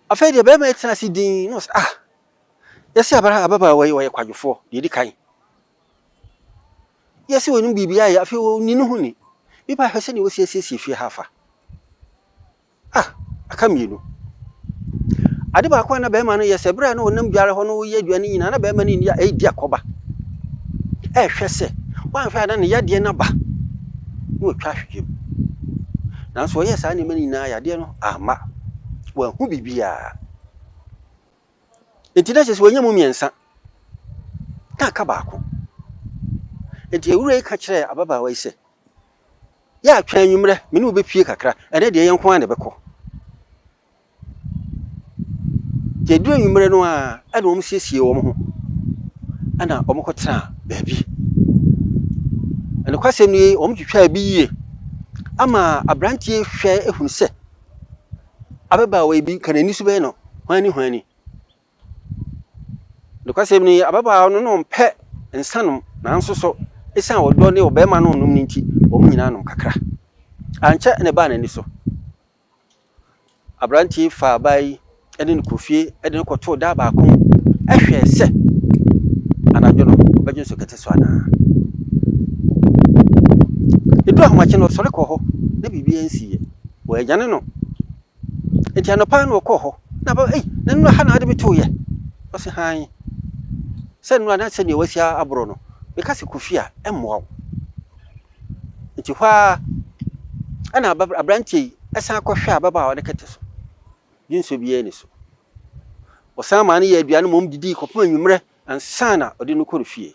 Afei deɛ bɛrima yi tena ase dinn na ɔsɛ ah yɛsi abara ababaawa yi ɔyɛ kwadwofoɔ deɛ edi kan. Yɛsi wɔn biribi ayɛ afei wɔnni ne ho ni. Bi ba hwɛ sɛdeɛ wɔsi asiesie fie ha afa. Ah aka mmienu. Ade baako a na bɛrima no yɛ sɛ bere a na ɔnam dware hɔ no wɔyɛ aduane no nyinaa na bɛrima no ni ɛredi akɔba. Ɛrehwɛ sɛ wɔanhwɛ a na ne yadeɛ no aba na wɔatwa ahwehwɛ mu. Nanso ɔyɛɛ saa nneɛma no nyinaa, yadeɛ no amma. Wanhu biribiara. Enti na kyerɛ sɛ wanya mu mmiɛnsa, na aka baako. Enti awura yi ka kyerɛɛ ababaawa yi sɛ, Yɛ a twɛn anwummerɛ, me ne wo bɛpue kakra, ɛnnɛ deɛ yɛn nko ara na ɛbɛkɔ. Nti ɛduru anwummerɛ no a, ɛna wɔsiesiee wɔn ho, ɛna wɔkɔtenaa baabi. Nokwasɛm nie, wɔtwitwaa bi yie ama aberanteɛ yi hwɛ huu sɛ ababaawa yi bi anka n'ani so bɛyɛ no hwanni hwanni. Nokwasɛm nie, ababaawa no na ɔmpɛ nsa nom nanso so ɛsiane ɔdɔ ne ɔbarima no renom no nti, wɔn nyinaa nom kakra. Ankyɛ na ɛbaa n'ani so. Aberanteɛ yi faa baa yi ne no kɔɔ fie de no kɔtoo daa baako hwɛɛ sɛ anadwo no ɔbɛdwo nso kɛte so anaa. Ɛduru ahomakye no ɔsɔre kɔɔ hɔ na biribiara nsiiɛ. Wɔanyane no. Nti anɔpa na ɔkɔɔ hɔ na bɛ ei na nnura ha na ade metooyɛ. Ɔse hann. Sɛ nnura na sɛdeɛ wasi aborɔ no meka sɛ kɔ fie a ɛmmoa wo. Enti hɔ ara ɛna aberanteɛ yi san kɔhwɛɛ ababaawa no kɛtɛ so. Dwensɔ biara nni so. Ɔsan maa no yɛɛ aduane ma wɔdidii kɔpem anwummerɛ ansa na ɔde no kɔɔ ne fie.